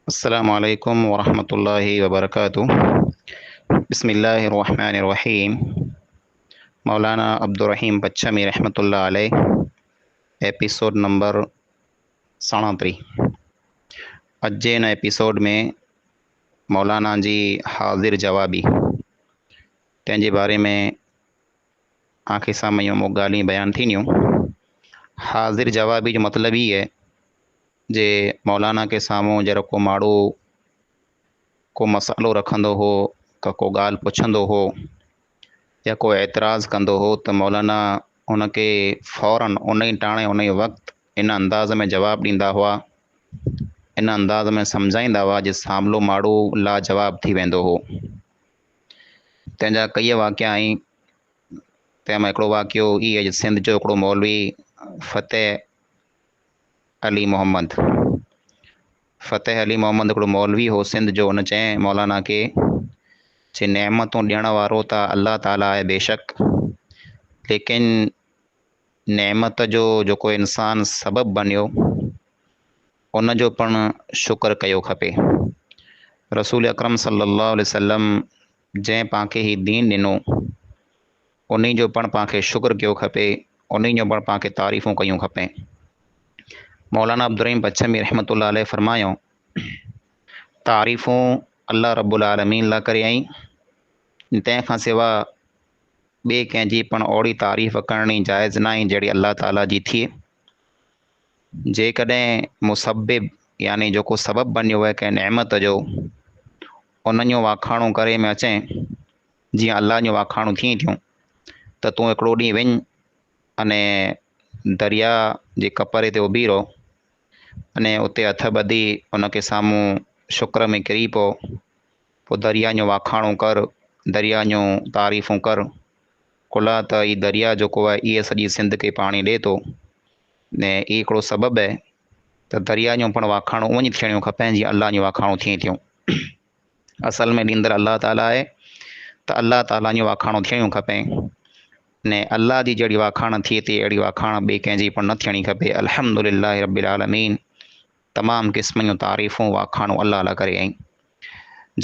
السلام عليكم ورحمة الله وبركاته بسم الله الرحمن الرحيم مولانا عبدالرحيم پڇمي رحمة الله عليه ايپيسوڊ نمبر ساڻاتري اڄ جي هن ايپيسوڊ ۾ مولانا جي حاضر جوابي تنهن جي باري ۾ آنکي سامهون يون مون ڳالهين بيان ٿينديون. حاضر جوابي جو مطلب هي آهي جي مولانا کي سامهون جهڙو ڪو ماڙو ڪو مسئلو رکندو هو ته ڪو ڳالهه پڇندو هو يا ڪو اعتراض ڪندو هو ته مولانا ان کي فورن ان ئي ٽاڻي ان ئي وقت ان انداز ۾ جواب ڏيندا هئا ان انداز ۾ سمجهائيندا هئا جي ساملو ماڙو لاجواب ٿي ويندو هو. تنهن جا ڪيئي واقعا آهن، تنهن مان هڪڙو واقعو هي آهي جو سنڌ جو هڪڙو مولوي فتح علي محمد فتح علي محمد هڪڙو مولوي هو سنڌ جو هن چئين مولانا کي چي نعمتون ڏيڻ وارو ته الله تعاليٰ آهي بيشڪ ليڪن نعمت جو جيڪو انسان سبب بنيو ان جو پڻ شڪر ڪيو کپي رسول اڪرم صلي الله عليه وسلم جنهن پانکي هي دين ڏنو انهي جو پڻ پانکي شڪر ڪيو کپي انهي جو پڻ پانکي تعريفون ڪيون کپين مولانا عبدالرحيم پڇمي رحمت الله عليه فرمايو تعريفون الله رب العالمين لا ڪري آئين تنهن کان سوا ٻئي ڪنهن جي پڻ اوهڙي تعريف ڪرڻي جائز ناهي جهڙي الله تعاليٰ جي ٿئي. جيڪڏهن مسبب يعني جيڪو سبب بنيو وهي ڪنهن نعمت جو انهن جو واکاڻو ڪري ۾ اچين جيئن الله جون واکاڻون ٿين ٿيون ته تون هڪڙو ڏينهن وڃ اني دريا جي ڪپري تي اڀي رهو اني اتي هٿ ٻڌي ان کي سامهون شڪر ۾ ڪري پو پوء درياء جون واکاڻون ڪر، درياء جون تعريفون ڪر، ڪلها ته هي درياء جيڪو آهي ايئي سڄي سنڌ کي پاڻي ڏئي ٿو ۽ ايئي هڪڙو سبب آهي ته درياء جون پڻ واکاڻون اونج ٿيڻيون کپين جيئن الله جون واکاڻون ٿين ٿيون. اصل ۾ ڏيندڙ الله تعاليٰ آهي ته الله تعاليٰ جون واکاڻون ٿيڻيون کپين ۽ الله جي جهڙي واکاڻ ٿئي ٿي اهڙي واکاڻ ٻئي ڪنهن جي پڻ نه ٿيڻي کپي الحمد لله رب العالمين. تمام قسمن جون تعريفون واکاڻون الله لاء ڪري ۽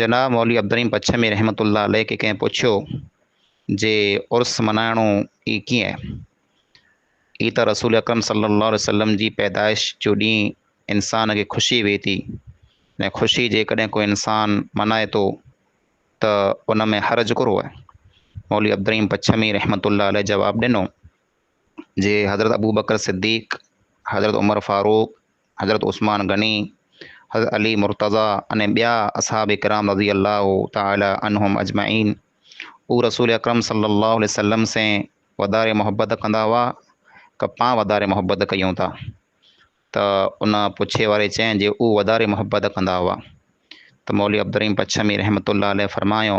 جناب مولوي عبدالرحيم پڇمي رحمة الله عليه کي ڪنهن پڇيو جي عرس ملهائڻو ئي ڪيئن؟ هي ته رسول اڪرم صلي الله عليه وسلم جي پيدائش جو ڏينهن انسان کي خوشي وي ٿي ۽ خوشي جيڪڏهن ڪو انسان ملهائي ٿو ته ان ۾ حرج ڪھڙو آهي؟ مولوي عبدالرحيم پڇمي رحمة الله عليه جواب ڏنو جي حضرت ابوبڪر صديق، حضرت عمر فاروق، حضرت عثمان غني، حضرت علي مرتضيٰ ۽ ٻيا اصحاب ڪرام رضي الله تعالٰي عنهم اجمعين هو رسول اڪرم صلّي الله عليه وسلّم سين وڌاري محبّت ڪندا هئا ڪه پان وڌاري محبّت ڪيون ٿا؟ ته ان پڇي واري چين جي هو وڌاري محبّت ڪندا هئا ته مولوي عبدالرحيم پڇمي رحمة الله عليه فرمايو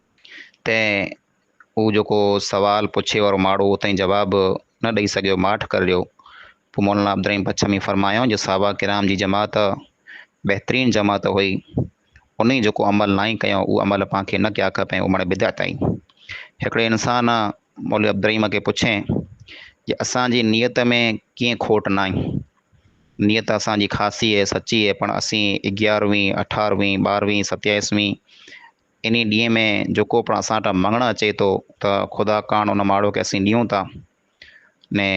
تنهن هو جيڪو سوال پڇي وارو ماڙهو اتان ئي جواب نه ڏئي سگهيو، ماٺ ڪرڙيو. پوء مولانا عبدالرحيم پڇمي فرمايائون جو صحابه ڪرام جي جماعت بهترين جماعت هئي، انهي جيڪو عمل ناهي ڪيو اهو عمل پان کي نه ڪيا کپين، اهو ماڻي بدعت آهي. هڪڙي انسان مولوي عبدالرحيم کي پڇي جو اسان جي نيت ۾ ڪيئن کوٽ ناهي؟ نيت اسان جي خاصي هي، سچي هي، پڻ اسين اگيارهوين، اٺارهوين، ٻارهوين، ستيائيسوين، انهي ڏينهن ۾ جيڪو پڻ اسان وٽ مڱڻ اچي ٿو ته خدا ڪاڻ ان ماڙهو کي اسين ڏيون ٿا ني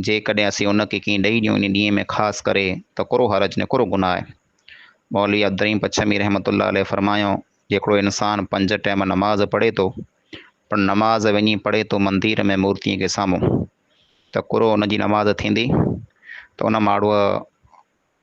جيڪڏهن اسين ان کي ڪنهن ڏئي ڏيون انهي ڏينهن ۾ خاص ڪري ته ڪھڙو حرج ني ڪھڙو گناھ آهي. مولوي عبدالرحيم پڇمي رحمة الله عليه فرمايو جيڪڙو انسان پنج ٽيم نماز پڙهي ٿو پر نماز وڃي پڙهي ٿو مندير ۾ مورتين کي سامهون ته ڪھڙو ان جي نماز ٿيندي ته ان ماڙهوء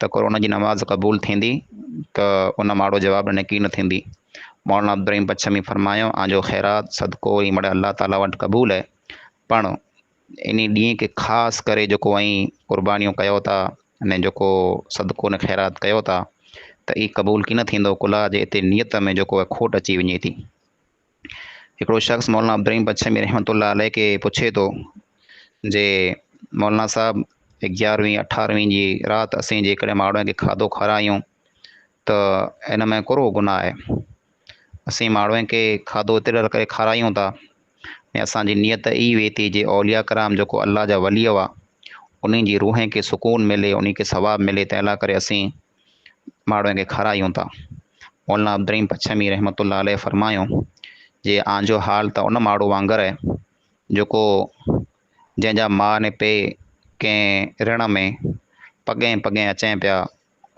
ته ڪرونا جي نماز قبول ٿيندي ته ان ماڙو جواب ڏني ڪي نه ٿيندي. مولانا عبدالرحيم پڇمي فرمايو آن جو خيرات، صدقو، ۽ مڙئي الله تعاليٰ وٽ قبول اهي. پڻ انهي ڏينهن کي خاص ڪري جيڪو اوهين قربانيون ڪيو ٿا ني جيڪو صدقو ني خيرات ڪيو ٿا ته اي قبول ڪي نه ٿيندو ڪلها جي اتي نيت ۾ جيڪو اهي کوٽ اچي وڃي ٿي. هڪڙو شخص مولانا عبدالرحيم بڇمي رحمة الله عليه کي پڇي ٿو جي مولانا صاحب اگيارهوين اٺارهوين جي رات اسين جيڪڏهن ماڻهن کي کاڌو کارايون ته ان ۾ ڪهڙو گناهه آهي اسين ماڻهن کي کاڌو اتي ڏر ڪري کارايون ٿا ۽ اسان جي نيت اي وي ٿي جي اولياء ڪرام جيڪو الله جا ولي هئا انهن جي روحين کي سڪون ملي انهن کي ثواب ملي تنهن لاء ڪري اسين ماڙهوء کي کارايون ٿا. مولانا عبدالرحيم پڇمي رحمة الله عليه فرمايو، جي آن جو حال ته ان ماڙهو وانگر آهي، جيڪو جنهن جا ماء ۽ پيء ڪنهن رڻ ۾ پڳهين پڳهين اچين پيا،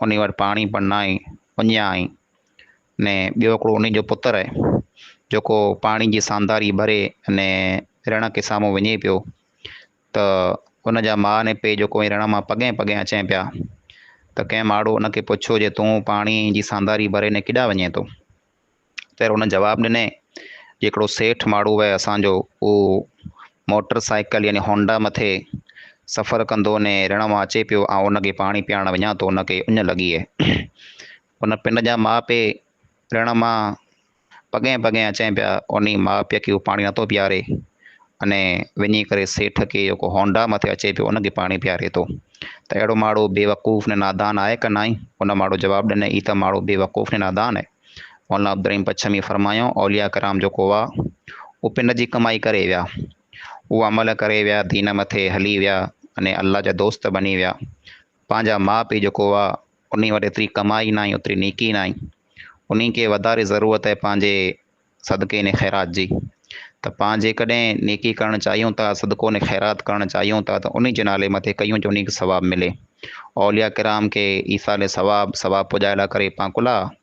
انهي وٽ پاڻي پڻ ناهي، اڃيا آهين، ۽ ٻيو هڪڙو انهي جو پتر آهي، جيڪو پاڻي جي سانداري ڀري ۽ رڻ کي سامهون وڃي پيو، ته ان جا ماء ۽ پيء جو ڪوئين رڻ مان پڳهين پڳهين اچين پيا ته ڪنهن ماڙهو ان کي پڇيو جي تون پاڻي جي سانداري ڀري ني ڪيڏانهن وڃين ٿو؟ تير ان جواب ڏني جي هڪڙو سيٺ ماڙهو اهي اسان جو اهو موٽر سائيڪل يعني هونڊا مٿي سفر ڪندو ني رڻ مان اچي پيو آئون ان کي پاڻي پياڻڻ وڃان ٿو ان کي اڃ لڳي اهي ان پنڊ جا ماء پي رڻ مان پڳين پڳين اچين پيا، انهي ماء پيء کي هو پاڻي نٿو پياري انهي وڃي ڪري سيٺ کي جيڪو هونڊا مٿي اچي پيو ان کي پاڻي پياري ٿو ته اهڙو ماڙو بي وقوف نه نادان آهي ڪه ناهي؟ ان ماڙو جواب ڏني هي ته ماڙو بي وقوف نه نادان آهي. مولانا عبدالرحيم پڇمي فرمايائون اولياء ڪرام جيڪو هئا اهي پنڊ جي ڪمائي ڪري ويا، اهو عمل ڪري ويا، دين مٿي هلي ويا انهي الله جا دوست بني ويا، پنهنجا ماء پيء جيڪو هئا انهي وٽ ايتري ڪمائي ناهي اوتري نيڪي ناهي انهي کي وڌاري ضرورت آهي پنهنجي صدقي ني خيرات جي ته پان جيڪڏهن نيڪي ڪرڻ چاهيون ٿا صدقو ني خيرات ڪرڻ چاهيون ٿا ته انهي جي نالي مٿي ڪيون جو انهي کي ثواب ملي اولياء ڪرام کي ايصال ثواب ثواب پڄائي لاء ڪري پان ڪلها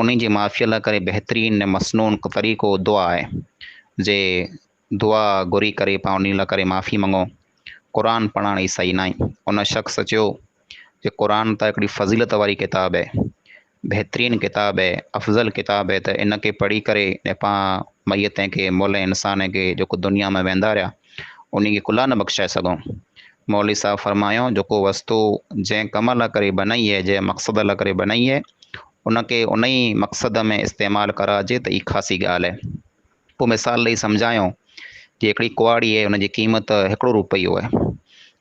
انهن جي معافيء لاء ڪري بهترين ۽ مسنون طريقو دعا آهي. جي دعا گهري ڪري پاڻ انهن لاء ڪري معافي مڱو. قرآن پڙهڻ عيسائي ناهي. ان شخص چيو جي قرآن ته هڪڙي فضيلت واري ڪتاب آهي. بهترين ڪتاب آهي. افضل ڪتاب آهي ته ان کي پڙهي ڪري ۽ پاڻ ميتين کي مئل انسانين کي جيڪو دنيا مان ويندا رهيا انهي کي ڪلها نه بخشائي سگهون. مولوي صاحب فرمايو جيڪو وستو جنهن ڪم لاء ڪري بنائي هي، جنهن مقصد لاء ڪري بنائي هي، ان کي انهي مقصد ۾ استعمال ڪرائجي ته اي خاصي ڳالهه هي. پوء مثال ڏئي سمجهايو جي هڪڙي ڪهاڙي هي ان جي قيمت هڪڙو روپيو هي.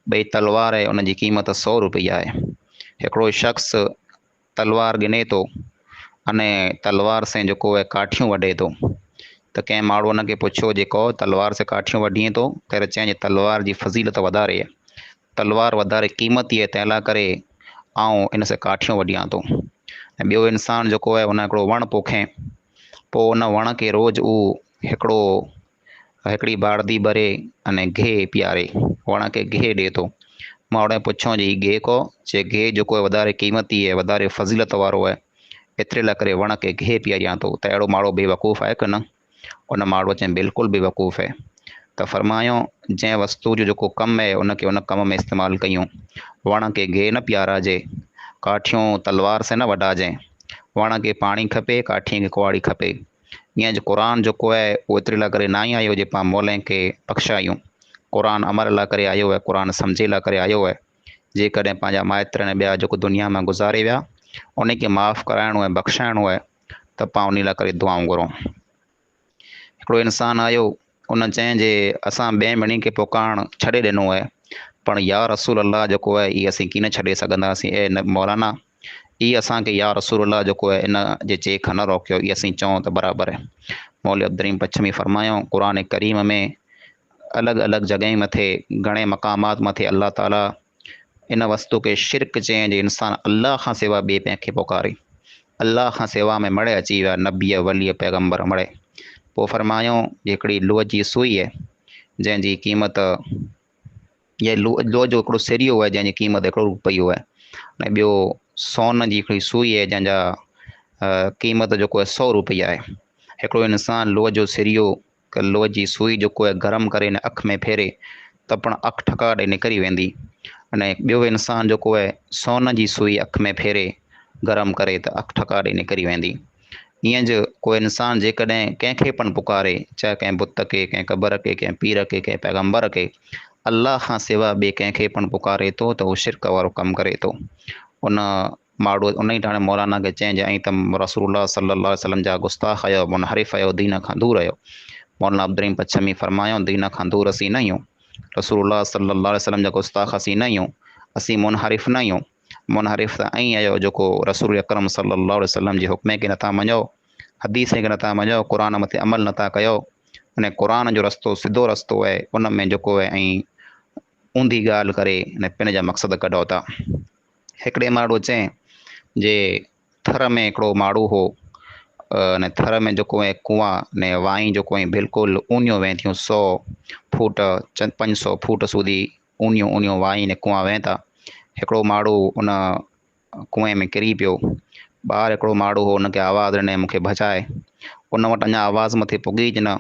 ٻئي تلوار هي ان جي قيمت سؤ روپيا هي. هڪڙو شخص. تلوار ڳني ٿو انهيء تلوار سين جيڪو اهي ڪاٺيون وڍي ٿو ته ڪنهن ماڻهوء ان کي پڇيو جي ڪو تلوار سين ڪاٺيون وڍين ٿو تيري چيائين جي تلوار جي فضيلت وڌاري اهي تلوار وڌاري قيمتي اهي تنهن لاء ڪري آئون ان سين ڪاٺيون وڍيان ٿو ۽ ٻيو انسان جيڪو اهي ان هڪڙو وڻ پوکين پوء ان وڻ کي روز هو هڪڙو هڪڙي ٻارڌي ٻري اني گهي پياري، وڻ کي گهي ڏي ٿو. ماڻهوء پڇيو جي هي گهي ڪو؟ چي گهي جيڪو وڌاري قيمتي ۽ وڌاري فضيلت وارو آهي، ايتري لاء ڪري وڻ کي گهي پياريان ٿو، ته اهڙو ماڻهو بي وقوف آهي ڪنه؟ ان ماڻهوء چيائين بلڪل بي وقوف هي. ته فرمايو جنهن وستوء جو جيڪو ڪم هي ان کي ان ڪم ۾ استعمال ڪيون. وڻ کي گهي نه پياراجي. ڪاٺيون تلوار سين نه وڍاجين. وڻ کي پاڻي کپي، ڪاٺيء کي ڪهاڙي کپي. جيئن جو قرآن جيڪو آهي اهو ايتري لاء ڪري ناهي آيو جو پاڻ مولين کي بخشايون. قرآن عمل لاء ڪري آيو آهي، قرآن سمجهي لاء ڪري آيو آهي. جيڪڏهن پنهنجا مائٽ ۽ ٻيا جيڪو دنيا مان گذاري ويا انهن کي معاف ڪرائڻو آهي بخشائڻو آهي ته پاڻ انهي لاء ڪري دعائون گهرون. هڪڙو انسان آيو انهن چين جي اسان ٻين ٻنين کي پڪارڻ ڇڏي ڏنو اهي پڻ يا رسول الله جيڪو اهي اهي اسين ڪين ڇڏي سگهنداسين اي مولانا اي اسان کي يا رسول الله جيڪو اهي ان جي چيء کان نه روڪيو اهي اسين چئون ته برابر اهي مولوي عبدالرحيم پڇمي فرمايائون قرآن ڪريم ۾ الڳ الڳ جڳهين مٿي گهڻي مقامات مٿي الله تعالي ان وستو کي شرڪ چيائين جو انسان الله کان سوا ٻئي ڪنهن کي پڪاري. الله کان سوا ۾ مڙهي اچي ويا نبيء، وليء، پيغمبر مڙهي. پوء فرمايو جو هڪڙي لوهه جي سوئي آهي جنهن جي قيمت يا لوهه جو هڪڙو سريو آهي جنهن جي قيمت هڪڙو روپيو آهي ۽ ٻيو سون جي هڪڙي سوئي آهي جنهن جا قيمت جيڪو آهي سؤ روپيا آهي. هڪڙو انسان لوهه جو سريو ڪه لوهه جي سوئي جو ڪوئي گرم ڪري هن اک ۾ ڦيري ته پڻ اک ٺڪاء ڏئي نڪري ويندي ۽ ٻيو انسان جو ڪوئي سون جي سوئي اک ۾ ڦيري گرم ڪري ته اک ٺڪاء ڏئي نڪري ويندي. ايئن جو ڪوئي انسان جيڪڏهن ڪنهن کي پڻ پڪاري چاهي ڪنهن بت کي، ڪنهن قبر کي، ڪنهن پير کي، ڪنهن پيغمبر کي، الله کان سوا ٻئي ڪنهن کي پڻ پڪاري ٿو ته هو شرڪ وارو ڪم ڪري ٿو. ان ماڙوت انهيء ٽاڻي مولانا کي چيائين جو ائين ته رسول الله صلي الله عليه وسلم جا گستاخ آهيو، منحرف آهيو، دين کان دور آهيو. مولانا عبدالرحيم پڇمي فرمايائون، دين کان دور اسين نه آهيون. رسول الله صلي الله عليه وسلم جا گستاخ اسين نه آهيون. اسين منحرف نه آهيون. منحرف ته اوهين آهيو جيڪو رسول اڪرم صلي الله عليه وسلم جي حڪمين کي نٿا مڃو، حديثين کي نٿا مڃو، قرآن مٿي عمل نٿا ڪيو. انهي قرآن جو رستو سڌو رستو آهي، ان ۾ جيڪو آهي ائين اونڌي ڳالهه ڪري انهي پن جا مقصد ڪڍو ٿا. هڪڙي ماڙو چين جي ٿر ۾ هڪڙو ماڙو هو ان ٿر ۾ جيڪو اهي ڪوئان ني وائين جيڪو اهي بلڪل اونيون وهين ٿيون سو فوٽ چند پنج سو فوٽ سوڌي اونيون اونيون وائين ني ڪوئان وهين ٿا هڪڙو ماڙو ان ڪوئين ۾ ڪري پيو ٻاهر هڪڙو ماڙو هو ان کي آواز ڏني مونکي بچائي ان وٽ اڃا آواز مٿي پڳي ئي نه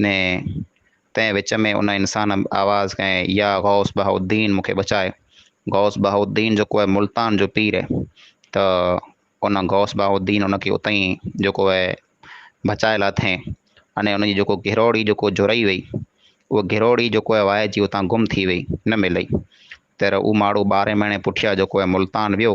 ني تنهن وچ ۾ ان انسان آواز ڪئي، يا غوث بهاء الدين مون کي بچاء. غوث بهاء الدين جيڪو آهي ملتان جو پير آهي ته ان غوث بهاء الدين ان کي اتان ئي جيڪو آهي بچائي لاٿين اني ان جي جيڪو گهروڙي جيڪو جهرئي وئي اهو گهروڙي جيڪو آهي وائجي اتان گم ٿي وئي نه ملئي. تير هو ماڻهو ٻارهين مهيني پٺيان جيڪو آهي ملتان ويو.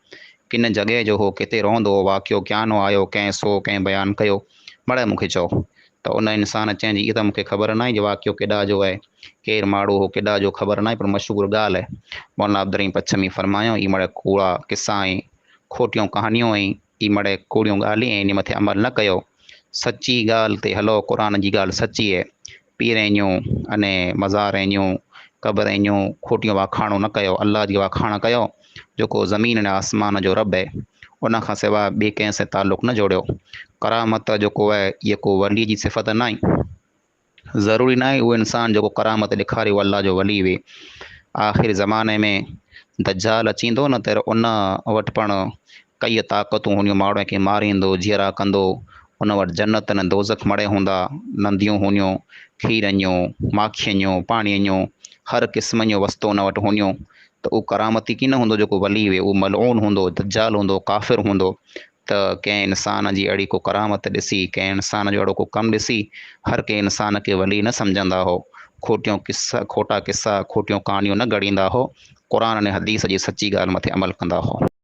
ڪن جڳهه جو هو ڪٿي رهندو هو، واقعو ڪيان هو آيو، ڪنهن سو ڪنهن بيان ڪيو، مڙئي مون کي چئو ته ان انسان چئين جي اها ته مون کي خبر ناهي جو واقعو ڪيڏا جو آهي، ڪير ماڙهو هو ڪيڏا جو خبر ناهي پر مشهور ڳالهه آهي. مولانا عبدالرحيم پڇمي فرمايائون، اهي مڙئي ڪوڙا قصا ۽ کوٽيون ڪهاڻيون ۽ اهي مڙئي ڪوڙيون ڳالهيون ۽ انهي مٿي عمل نه ڪيو، سچي ڳالهه تي هلو، قرآن جي ڳالهه سچي آهي، پيرينيون اني مزارينيون قبرينيون کوٽيون واکاڻو نه ڪيو الله جي واکاڻ ڪيو جيڪو زمين اني آسمان جو رب اهي ان کان سوا ٻي ڪنهن سين تعلق نه جوڙيو ڪرامت جيڪو اهي اهي ڪو ولي جي صفت ناهي ضروري ناهي اهو انسان جيڪو ڪرامت ڏيکاري اهو الله جو ولي وي آخر زماني ۾ دجال اچيندو نه تر ان وٽ پڻ ڪيئي طاقتون هونديون ماڻهو کي ماريندو جيئرا ڪندو ان وٽ جنت نه دوزخ مڙئي هوندا، ننديون هونيون، کيرن جون، ماکين جون، پاڻيء جون، هر قسم جون وستون ان وٽ هونيون، ته اهو ڪرامتي ڪين هوندو جيڪو ولي هئي، اهو ملعون هوندو، دجال هوندو، ڪافر هوندو، ته ڪنهن انسان جي اهڙي ڪو ڪرامت ڏسي، ڪنهن انسان جو اهڙو ڪو ڪم ڏسي، هر ڪنهن انسان کي ولي نه سمجهندا هو، کوٽيون قصا، کوٽا قصا، کوٽيون ڪهاڻيون نه گهڙيندا هو، قرآن ۽ حديث جي سچي ڳالهه مٿي عمل ڪندا هو.